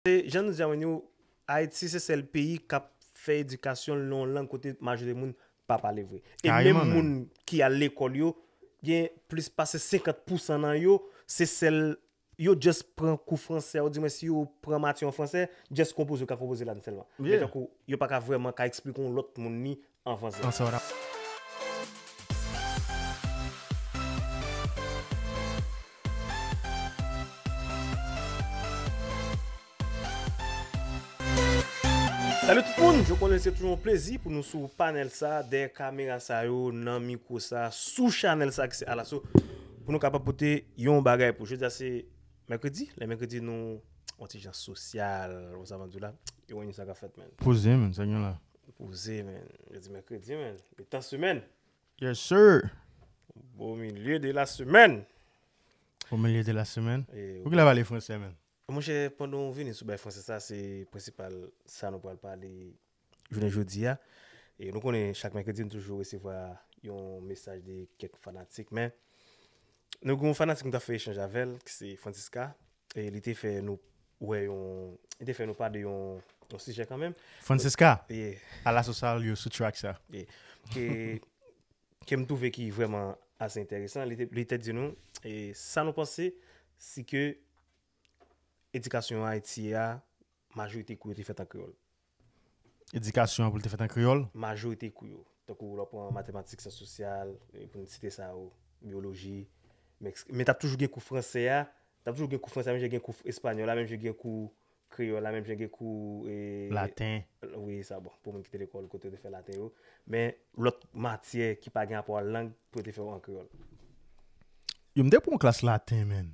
Se jan nou di a Wendy, Ayiti se sèl peyi k ap fè edikasyon l nan yon lang kote majorite moun pa pale vre. E menm moun ki al lekòl yo, gen plis pase 50 pousan nan yo, se sèl yo just pran kou fransè a oudimwen si yo pran mati an fransè, just konpoze yo ka konpoze la n sèlman. Men tankou yo pa ka vrèman ka eksplike yon lòt moun li an franse. Salut tout moun, je konnen se toujou yon plezi pou nou sou panel sa, dèyè kamera sa yo, nan mikro sa, sou chanel sa ki se Alaso pou nou kapab pote yon bagay pou jodi a se mèkredi, lè mèkredi nou yon ti jan sosyal, konsa map diw la, yo wè nou sa kap fèt menn. Poze menn, sa gen la? Poze men. Jodi mèkredi men. Mitan semèn. Yes sir. Bon milieu de la semaine. Bon milieu de la semaine. Pou kile pale fransè men. Monchè pandan ou vini sou bay fransè sa se prensipal sa nou pral pale jounen jodi a. E nou konnen chak mèkredi nou toujou resevwa yon mesaj de kèk fanatik men nou gen yon fanatik nou ta fè echanj avèl ki se Francisca. E li te fè nou wè yon, li te fè nou pa de yon yon sijè kanmenm. Francisca, Yeah. ala sou sa yo sou track sa. Yeah. Ke, ke m twouve ki vrèman ase enteresan, li te, li te di nou, e sa nou panse si ke edikasyon Ayiti a, majorite kou yo te fèt an kreyòl. edikasyon an pou l te fèt an kreyòl. Majorite kou yo, tankou lè w pran matematik, syans sosyal, pou n site sa yo, byoloji, mèks. Men t ap toujou gen kou franse a, t ap toujou gen kou franse a menm jan gen kou espanyòl la, menm jan gen kou kreyòl la, menm jan gen kou. Laten. Wi, sa bon, pou moun ki te lekòl kote yo te fè laten yo. Men lòt matyè ki pa gen rapò ak lang pou yo te fè yo an kreyòl. Yo m te pran yon klas laten menn.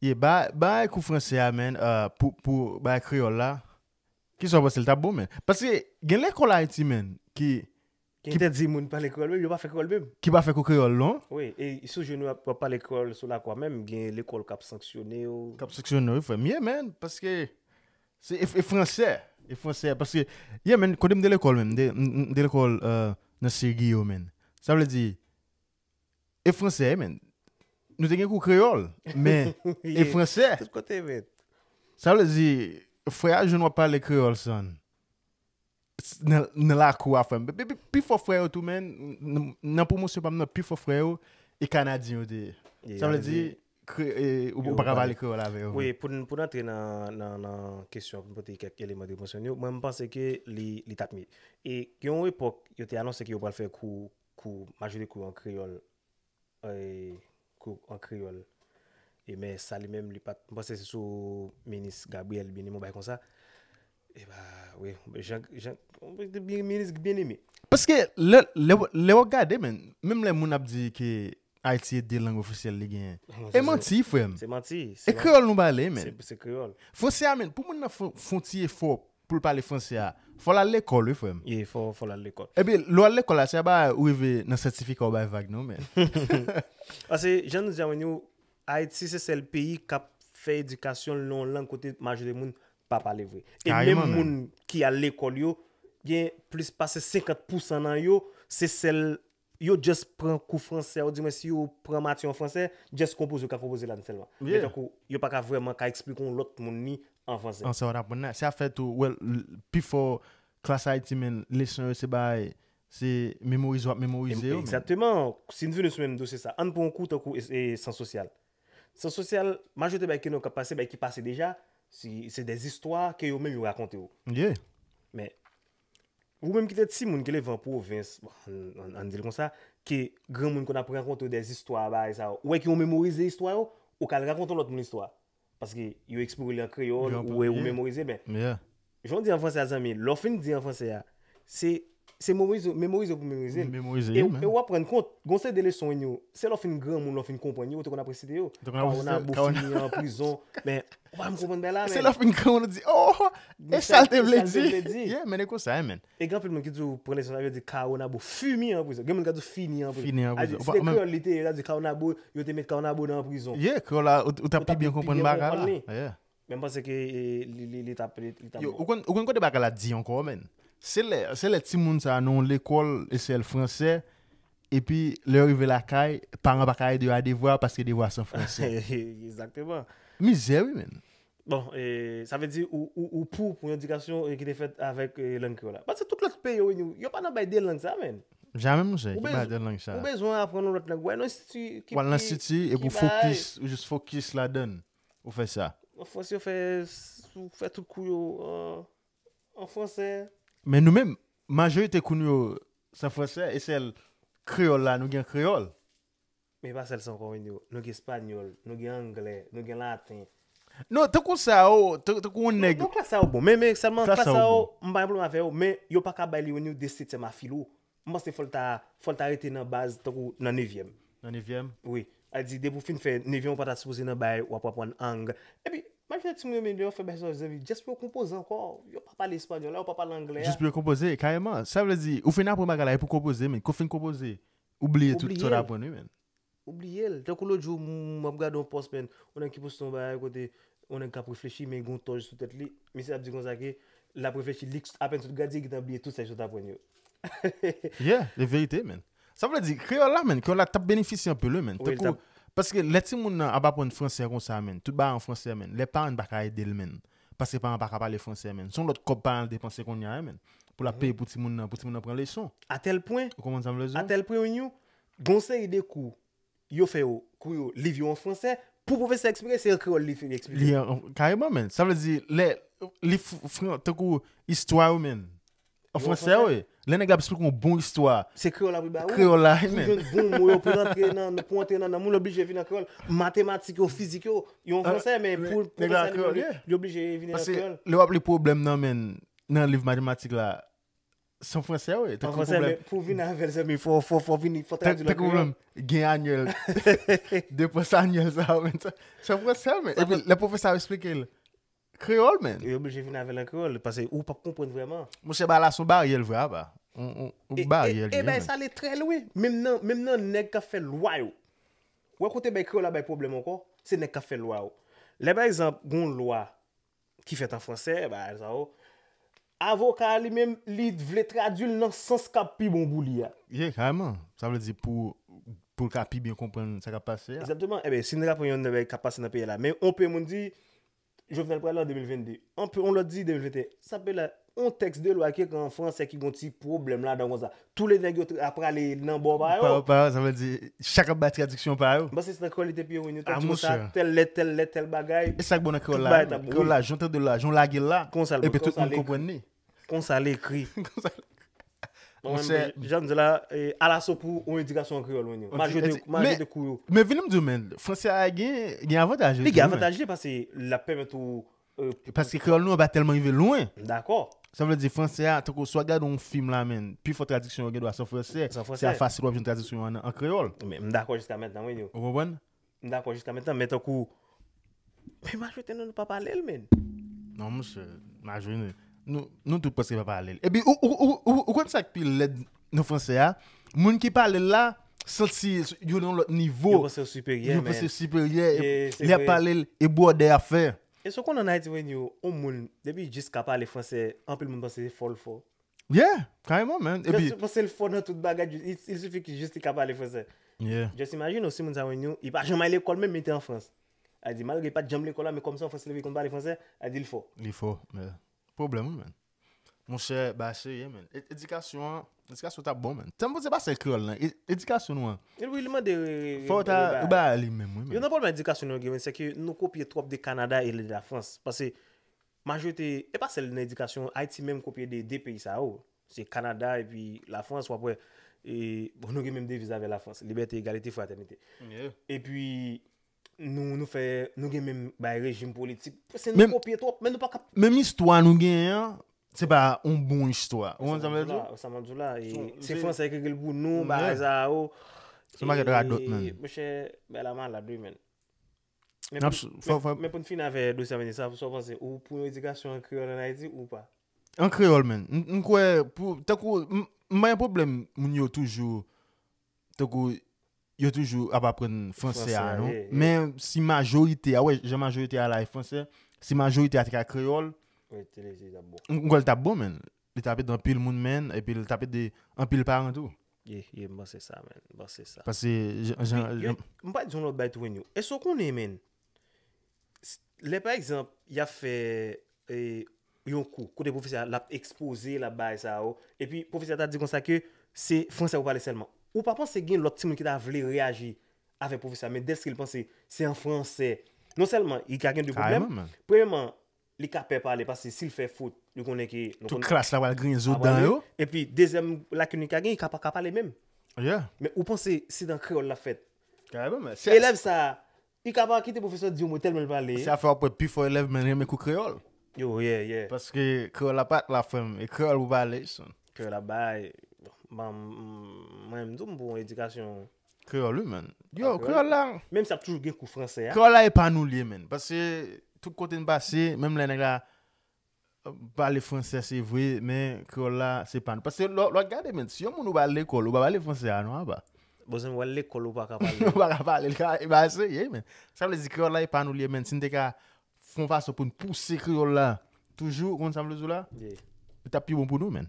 Yeah ba bay kou fransè a man uh pou pou bay kreyòl la kisa ou panse li tap bon man paske gen lekòl ayiti man ki Ki entèdi moun pale kreyòl menm yo pa fè kreyòl menm. ki pa fè kou kreyòl non. Wi e sou jèn yo ap pale kreyòl sou lakwa menm gen lekòl kap sanksyone yo. kap sanksyone wi frèm yeah man paske se e fransè e fransè paske yeah man kotem te lekòl menm mte lekòl nan segi yo man sa vle di E fransè menn. Nou te gen kou kreyòl, men e fransè. Tout kote menn. Sa vle di, frè a jwenn wap pale kreyòl san. Nan lakou a frèm. Pi fò frè yo tou menn, nan pwomosyon pam nan, pi fò frè yo, e kanadyen yo te. Sa vle di, ou pa ka pale kreyòl avè yo. Pou n antre nan kesyon, pou pote kèk eleman de pwomosyon yo, mwen mpanse ke li tap mi. E gen yon epòk, yo te anonse ke yo pral fè kou Kou Majoli kou an kreyòl e kou an kreyòl e men sa li menm li pa t m panse se sou minis Gabriel Bien-Aimé yon bagay konsa e ba wi jan jan minis Bien-Aimé. Paske lè lè lè w ap gade men menm lè moun ap di ke Ayiti e 2 lang ofisyèl li genyen e manti frè m se manti e kreyòl nou pale men se kreyòl fransè a men pou moun nan fè fè yon ti efò Pou l pale franse a, fò l al lekòl wi frè m. Ye, fò l al lekòl. Epi, lè w al lekòl la, se pa ou rive nan sètifika ou bay vag non men. Pase, jan nou di avwen yo, Ayiti se sèl peyi k ap fè edikasyon l nan yon lang kote majorite moun pa pale vre. E menm moun ki al lekòl yo, gen plis pase 50 pousan nan yo, se sèl yo just pran kou fransè ou di mwen si yo pran mati an fransè, just konpoze yo ka konpoze la sèlman. Men Yeah. tankou yo pa ka vrèman ka eksplike yon lòt moun li an fransè. An sa yo t aprann la. Se ap fèt tou, well, l, pifò klas Ayiti men leson yo se bay, se memorize w ap memorize yo men. Egzakteman. Si n vini sou menm dosye sa, ann pran yon kou tankou es, e, syans sosyal. Syans sosyal, majorite bagay ke nou kap pase se bagay ki pase deja, si, se dè zistwa ke yo menm yo rakonte w. Yeah. Men, Ou menm ki te timoun, ki leve an pwovens, ann di l konsa, ke granmoun konn ap rakonte w dè zistwa bagay sa yo, ou wè ke ou memorize istwa yo, ou ka al rakonte yon lòt moun istwa. Paske yo eksprime li an kreyòl, ou wè ou memorize men. Jan w di an franse a zanmi, lè w fin di an franse a, se memorize pou memorize l. E w ap rann kont, gon seri de leson, se lè w fin granmoun, lè w fin konprann yo, ou te konn ap resite yo. Kawona, Bofini, Prizon, men Ou pa m konprann bay la men. Se lè w fin gran moun ou di oh e sa l te vle di. Yeah men e konsa ye men. E gen anpil moun ki toujou pran leson sa yo di Caonabo fini an prizon. Gen moun ki ap di w fini an prizon. Fini an prizon. Si se kreyòl li te ye, l ap di Caonabo yo te met Caonabo nan prizon. Yeah kreyòl la ou t ap pi byen konprann bagay la. Yeah. Men m panse ke li t ap bon. Yo ou konn kote bagay la di ankò men. Se lè timoun sa nan yon lekòl eseyèl fransè Epi, lè yo rive lakay, paran pa ka ede yo a devwa paske devwa se an franse. Egzakteman. Mizè wi menn. Bon, sa vle di ou pou yon edikasyon ki te fèt avèk lang kreyòl la? Paske tout lòt peyi yo reyini, yo pa nan bay de lang sa menn. Jamè monchè, ki bay de lang sa? Ou bezwen aprann yon lòt lang, ou al nan enstiti ki. Ou al nan enstiti epi ou fokis, ou jis fokis ladann. Ou fè sa. An Frans yo fè, ou fè tout kou yo an. an fransè. Men nou menm, majorite kou nou yo san fransè e sèl kreyòl la nou gen kreyòl. Men e pa sèl sa ankò men yo, nou gen espanyòl, nou gen anglè, nou gen laten. Non, tankou sa yo, tankou yon nèg. Non, klas sa yo bon, men sèlman klas sa yo, m pa gen pwoblèm avè yo, men yo pa ka bay li yon nivo de setyèm a filo. M panse fòl ta fòl ta rete nan baz tankou nan nevyèm. Nan nevyèm? Wi. A di depi w fin fè nevyèm ou pa ta sipoze nan bay wap aprann ang. Epi majorite timoun yo menm lè yo fè bay sa yo zanvi just pou yo konpoze ankò. Yo pa pale espanyòl la, yo pa pale anglè a. Jis pou yo konpoze, kareman. Sa vle di ou fin aprann bagay la e pou konpoze men. Kou fin konpoze ou bliye tout sa w t aprann wi menn. Ou bliyel, tankou lòt jou m ap gade yon pòs men, yon nèg ki poste yon bagay kote yon nèg k ap reflechi men gen yon tòj sou tèt li, misye ap di konsa ke l ap reflechi li apèn sot gradye gentan bliye tout sa li sot aprann yo. Yeah, li verite menn. Sa vle di, kreyòl la menn, kreyòl la t ap benefisye anpil wi menn, tankou, paske lè timoun nan ap aprann fransè konsa menn, tout bagay an fransè menn, lè paran pa ka ede l menn, paske paran pa ka pale fransè menn, se yon lòt kòb paran an depanse kounya menn, pou l ap peye pou timoun nan, pou timoun nan pran leson. Atèl pwen, atèl pwen yon Gen yon seri de kou yo fè yo, kou yo, liv yo an franse, pou pwofesè eksplike, se an kreyòl li fin eksplike. Li an, kareman menn. Sa vle di, lè, li f, fran, tankou istwa yo menn, an franse wi. Lè nèg la ap esplike yon bon istwa. Se kreyòl la pou l ba ou. Kreyòl la menn. Pou jwenn bon mo yo, pou l antre nan, pou antre nan nanm ou, l oblije vin an kreyòl. Matematik yo, fizik yo, yo an franse men pou pwofesè li menm li oblije vini an kreyòl. Paske lè w ap li pwoblèm nan menn, nan liv matematik la, San fransè wè. San fransè men pou vin avèl se mi fò fò fò vin fò tradil. Tèk ou mèm gen anyèl. Depans anyèl sa wè. San fransè men. Epi le pwofè sa wè esplike lè. Kreyòl men. Yo bèjè vin avèl an kreyòl. Pase ou pa konpwen vreman. Mwen se ba la son baryèl vre a ba. Ou baryèl. E bay sa lè trèl wè. Mèm nan mèm nan nèk ka fè lwa yo. Wè kote bay kreyòl la bay pwoblèm ankò. Se nèk ka fè lwa yo. Lè pa egzanp goun lwa. ki fèt an franse, bagay sa yo, avoka a li menm li vle tradui l nan sans k ap pi bon pou li a. Ye, karèman. Sa vle di pou pou l ka pi byen konprann sa k ap pase a. Egzakteman. Enben, si n ta pran yon nan bagay k ap pase nan peyi a la, men yon pe moun di Jovenel pral la an 2022, yon lòt di 2021, sa peyi la On tèks de lwa ki ekri an franse ki gon ti pwoblèm ladan konsa. Toule nèg yo ap prale nan bò pa yo. Pa yo, sa vle di chak ap bay tradiksyon pa yo. Basis nan kreyòl li te piye wi. Yo te di konsa, tèl lèt, tèl lèt, tèl bagay. E sa k bon nan kreyòl la menm? Kreyòl la, jan w tande l la, jan w lage l la, epi tout moun konprann li. Konsa l ekri. Konsa l ekri. Monsè. Jan m di la, alaso pou on edikasyon an kreyòl wi. M al jete kou yo. Men vini m di w men, franse a gen avantaj li. Li gen avantaj li pase l ap pèmèt ou Paske kreyòl nou an pa tèlman rive lwen. M dakò. Sa vle di fransè a, tankou si w gade yon fim la menn, pi fò tradiksyon yo gendwa se an fransè. Se an fransè. Se a fasil w ap jwenn tradiksyon yo an kreyòl. Men m dakò jiska mentnan wi nou. Ou konprann? M dakò jiska mentnan men tankou Men majorite nan nou pa pale l menn. Non monchè, majori nou tout prèske pa pale l. Epi ou konn sa k pi lèd? nan fransè a, moun ki pale l la santi yo nan yon lòt nivo. Yo panse yo siperyè, Yo panse yo siperyè, lè y ap pale l, e bwòdè y ap fè. Èske w konn an Ayiti man, yon moun depi l jis ka pale fransè, anpil moun panse se fò l fò. Yeah, kareman man. Yo jis panse l fò nan tout bagay, il suffit ke jis li ka pale fransè. Yeah. Just imagine ou si moun sa man yon, li pa janm al lekòl menm men li te an Frans. A di malgre li pa t janm lekòl la men kòm se an Frans li te viv li konn pale fransè, a di l fò. Li fò, yeah. Problem wi menn. Monchè bagay serye menn. Edikasyon an, edikasyon ta bon menn. Tanpou se pa sèl kreyòl nan. Edikasyon nou an. Li wi li mande re re. Fò ta bay li menm wi menn. Yo nan pwoblèm edikasyon nou gen menn se ke nou kopye twòp de Kanada e de Lafrans. Pase majorite, e pa sèl nan edikasyon, Ayiti menm kopye de 2 peyi sa yo. Se Kanada e pi Lafrans wap wè e bon nou gen menm deviz avè Lafrans, libète, egalite, fratènite. E pi Nou nou fè nou gen menm bay rejim politik. Se nou kopye twòp men nou pa ka. Menm istwa nou genyen an se pa yon bon istwa. Ou konn sa mwen vle di w? Sa mwen vle di w la e se fransè ki ekri l pou nou bagay sa yo. Se yon pakèt radòt menn. Mon chè bagay la malad wi menn. Men pou n fini avè dosye Amendi sa, sa w panse? Ou pou yon edikasyon an kreyòl an Ayiti ou pa? An kreyòl menn. M kwè pou tankou m pa gen pwoblèm moun yo toujou tankou yo toujou ap aprann fransè a non. Men si majorite a, wè jan majorite a la e fransè, si majorite a te ka kreyòl, m kwè l t ap bon menn. Li t ap ede anpil moun menn epi l t ap ede anpil paran tou. Ye, ye, m panse sa menn, m panse sa. Pase jan. M pral di w yon lòt bagay tou menn yo. Èske w konnen menn, Lè pa egzanp, y ap fè yon kou, kote pwofesè a l ap ekspoze, l ap bay sa yo, epi pwofesè a ta di konsa ke se fransè pou pale sèlman. Ou pa panse gen lòt timoun ki ta vle reyaji avèk pwofesè a, men dèske l panse se an fransè, non sèlman li ka gen de pwoblèm, premyèman, li ka pè pale paske si l fè fot, li konnen ke. Tout klas la pral griyen zo dan yo. Epi dezyèm lakin li ka gen, li ka pa ka pale menm. Men ou panse se an kreyòl l ap fèt. Elèv sa a, Li ka pa kite pwofesè di yon mo tèlman l pale. Se afè wap wè pifò elèv menn renmen kou kreyòl. Yo yeah yeah. Paske kreyòl la pat la frèm e kreyòl pou pale son. Kreyòl la bay banm mwen menm tou m pou yon edikasyon. Kreyòl wi menn. Yo kreyòl la. Menm si ap toujou gen kou fransè a. Kreyòl la e pa nou l ye menn. Paske tout kote n pase menm lè nèg la Pale fransè se vre men kreyòl la se pa nou. Paske lè w gade men, si yon moun ou ba al lekòl, ou pa pale fransè a non apa. Bon zanmi wal lekòl ou paka pale l. Ou paka pale l kare, e ba eseye men. Sa vle di kreyòl la e pa nou li ye men si n te ka fon fason pou n pouse kreyòl la toujou ou konn sa m vle di w la? Li tap pi bon pou nou men.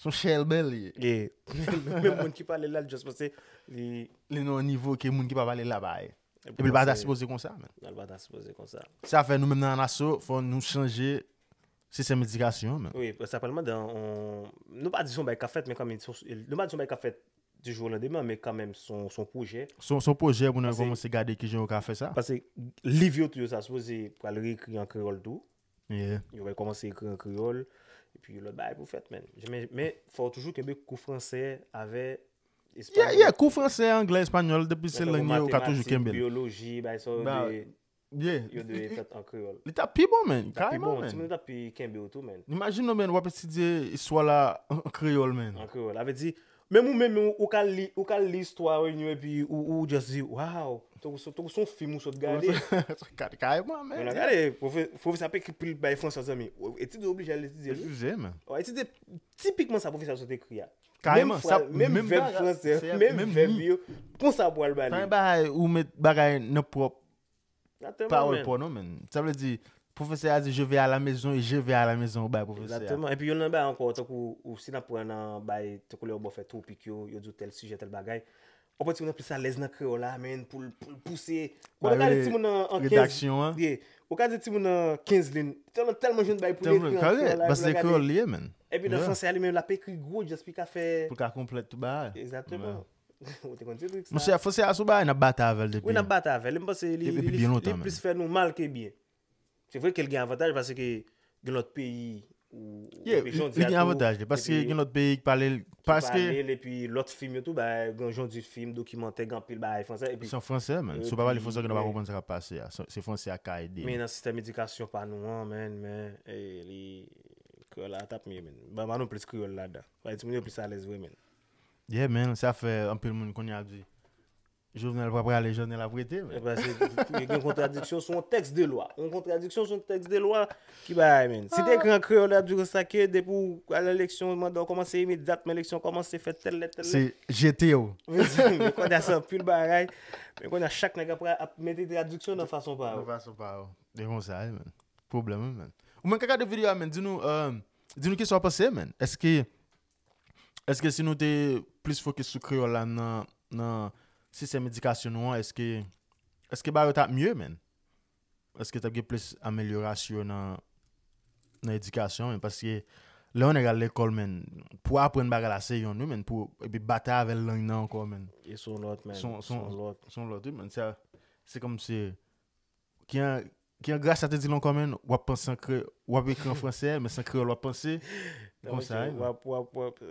Son chèlbè li ye. Ye. Menm moun ki pale la, li just panse li. Li nan yon nivo ke moun ki pa pale la pa ye. Epi li pa ta sipoze konsa menm. Li pa ta sipoze konsa. Se sa fè nou menm nan Anaso, fò nou chanje sistèm edikasyon an menm. Wi, sa pral mande yon, nou pa di son bagay k ap fèt men kanmenm, nou pa di son bagay k ap fèt di jou o landemen men kanmenm son pwojè. Son pwojè pou nou kòmanse gade kijan yo ka fè sa. Pase liv yo tou yo sa sipoze pral reekri an kreyòl tou. Yo va kòmanse ekri an kreyòl, epi yon lòt bagay pou fèt menn. Men, fò ou toujou kenbe kou fransè avè espanyòl. Ye, ye, kou fransè, anglè, espanyòl, depi se lang yo, ou ka toujou kenbe. Matematik, biyoloji, bay sa yo dwe, yo dwe fèt an kreyòl. Li ta pi bon menn, ka yon menn. Ti moun ta pi kenbe ou tou menn. Imajin nou menn wap etidye istwa la an kreyòl menn. An kreyòl, avè di, Menm ou menm ou ka li ou ka li istwa reunion epi ou ou just di waw tankou son tankou son film ou sot gade. Kareman men. Mwen gade profesè ap ekri pou li bay François zanmi. Etid ou oblije al etidye li. Etidye men. Ou etidye tipikman sa profesè sot ekri a. Kareman sa menm vèb français menm vèb yo konsa pou al bali. Sa bagay ou met bagay nan prop Pawòl paw non menn. Sa vle di, pwofesè a di je ve a la mezon e je ve a la mezon ou bay pwofesè a. Exactement. Epi youn nan bagay ankò, tankou ou si n ap pran nan bay, tankou lè ou bò fè twopik yo, yo di w tèl sijè, tèl bagay, ou pran timoun nan plis alèz nan kreyòl la menn pou l pouse. Bon, ou ka di timoun nan an 15. Ye. Ou ka di timoun nan 15 lin. Tèlman, tèlman jwenn bagay pou l ekri an kreyòl la. Kare, paske kreyòl li ye menn. Epi nan fransè a li menm l ap ekri gwo djaz pou l ka fè. Pou l ka konplèt tout bagay. Exactement. Ou te konn ti trik sa. Monchè, Fose a sou bagay n ap batay avè l depi. Wi, n ap batay avè l. E m panse li plis fè nou mal ke byen. Se vre ke l gen avantaj paske gen lòt peyi ou wè ke Jon Di a tou. Ye, li gen avantaj li paske gen lòt peyi ki pale l. Ki pale l epi lòt fim yo tou bay gen Jon Di fim, dokimantè, gen anpil bagay franse. Se an franse men. Si w pa pale franse ou gen dwa pa konprann sa k ap pase a. Se franse a ka ede. Men nan sistèm edikasyon pa nou an men, men li. Kreyòl la t ap mye men. Ban nou plis kreyòl ladan. Bay timoun yo plis alèz vre men. Yeah man sa fè anpil moun kounye a ap di Jovenel pa prale Jovenel ap rete man. Ebyen se e gen kontradiksyon sou yon tèks de lwa. Yon kontradiksyon sou yon tèks de lwa ki bagay man. Si te ekri an kreyòl yo tap di konsa ke depi w al nan eleksyon manda w kòmanse imedyatman eleksyon kòmanse fè tèl lè tèl lè. Se jete w. Mezanmi kounye a se anpil bagay. Men kounye a chak nèg ap pra ap mete tradiksyon nan fason pa yo. Nan fason pa yo. E konsa wi man. Pwoblèm wi man. Ou menm k ap gade video a man di nou di nou kisa w panse man. Eske Eske si nou te plis fokis sou kreyòl la nan sistèm edikasyon nou an, eske bagay yo t ap mye menn? Eske t ap gen plis amelyorasyon nan edikasyon menn? Paske lè yon nèg al lekòl menn, pou aprann bagay la se yonn wi menn, pou batay avè lang nan ankò menn, se yon lòt wi menn. Se kòmsi. Kian Kian Gracia te di lon comment wap panse an kre wap ekri an français men se an kreyòl wap panse konsa wi. Wap wap wap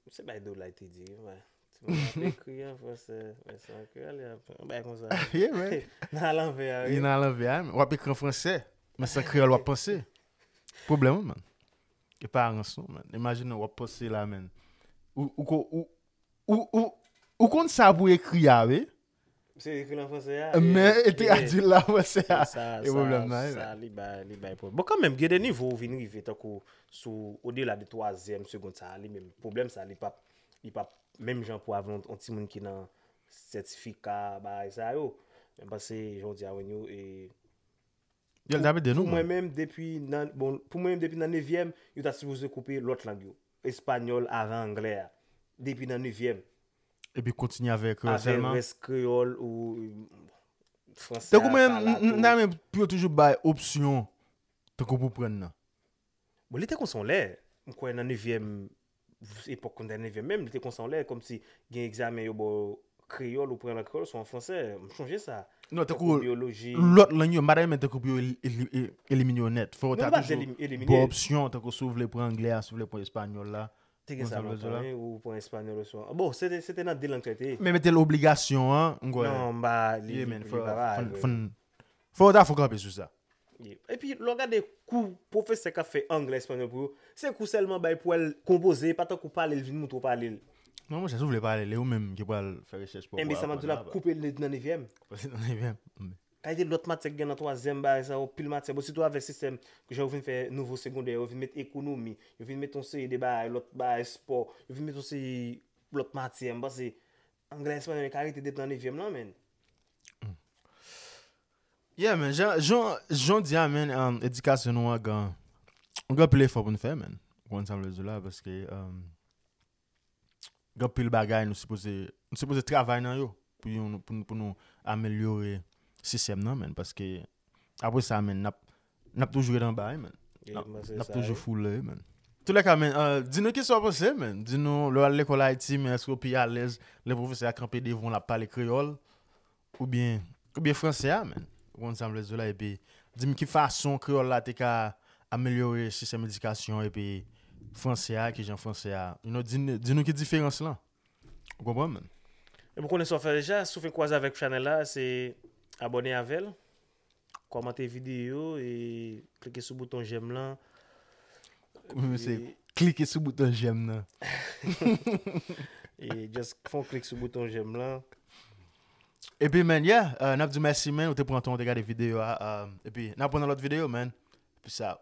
se bay do lay te di wi man. Wap ekri an français men se an kreyòl yap yon bay konsa. Yeah man. Nan alanvè a wi. Li nan alanvè a man. Wap ekri an français men se an kreyòl wap panse. Pwoblèm wi man. E pa rans non man. Imajine wap panse la man. Ou ou ou ou ou konn sa pou ekri a wi. Se ekri l an franse a. Men e tradui l an franse a. E pwoblèm nan e la. Sa li bay, li bay pwoblèm. Bon kanmenm gen de nivo ou vin rive tankou sou odela de twazyèm segond sa a li menm pwoblèm sa a li pap li pap menm jan pou avè yon timoun ki nan sètifika bagay sa yo. Mwen panse jan w di a Wenyo e Yo l ta pi de nou. Pou mwen menm depi nan bon pou mwen menm depi nan nevyèm yo ta sipoze koupe lòt lang yo. Español avan anglè a. Depi nan nevyèm. Epi kontinye avè kreyòl sèlman. Avè rès kreyòl ou fransè a sa la tou. Tankou mwen, m ta renmen pou yo toujou bay opsyon tankou pou pran nan. Bon, li te konsa yon lè. M kwè nan nevyèm, epòk kondè nevyèm menm, li te konsa yon lè. Kòmsi gen egzamen yo ba w Kreyòl ou pran l an kreyòl sou an fransè. M chonje sa. Non, tankou biyoloji. Lòt lang yo, m pa ta renmen tankou pou yo elimine yo nèt. Fò ou ta toujou bon opsyon, tankou si ou vle pran anglè a, si ou vle pran espanyòl la. Te gen sa lontan wi, ou pran espanyòl oswa. Bon, se te nan de lang sa yo te ye. Men mete l obligasyon an, m kwè. Non, m pa li pa. Fòn Fò yo ta fon kanpe sou sa. Epi lè w gade kou pwofesè k ap fè anglè espanyòl pou yo, se kou sèlman bay pou al konpoze, e pa tankou pale l vin montre w pale l. Non monchè, si w vle pale l, e ou menm ki pral fè rechèch pa w pou w aprann. Enben sa m ap di w la, koupe l nan nevyèm. Koupe l nan nevyèm. Kalite lòt matyè ki gen nan twazyèm bagay sa yo, pil matyè. Bon sitou avèk sistèm jan yo vin fè nouvo segondè, yo vin met ekonomi, yo vin met yon seri de bagay, lòt bagay, espò, yo vin met yon seri lòt matyè. M panse Anglè espanyòl yo ka rete depi nan nevyèm lan menn. Yeah men, jan, jan, jan di a men, um, edikasyon nou an gan, gan pil efò pou nou fè men. Konn sa m vle di la, paske, um, gan pil bagay nou sipoze, nou sipoze travay nan yo, pou yon, pou nou, pou nou amelyore sistèm nan men, paske, apre sa men, nap, Nap toujou ret anba wi men. Nap toujou foule wi men. Tou lè ka men, di nou ki sa w panse men. Di nou lè w al lekòl Ayiti men èske w pi alèz lè pwofesè a kanpe devan w l ap pale kreyòl oubyen oubyen fransè a men. Ou konn sa m vle di w la epi di m ki fason kreyòl la te ka amelyore sistèm edikasyon epi fransè a ki jan fransè a you know di nou ki diferans lan. Ou konprann men. Epi w konnen sa w fè deja, si w fin kwaze avèk chanèl la se abòne avè l. Kòmante videyo e klike sou bouton jèm lan. Mwen se klike sou bouton jèm lan. E just fon klik sou bouton jèm lan. Epi men, yeah, uh, nap di mèsi men, ou te pran ton, ou te gade videyo a, um, epi nap pran nan lòt videyo men. Peace out.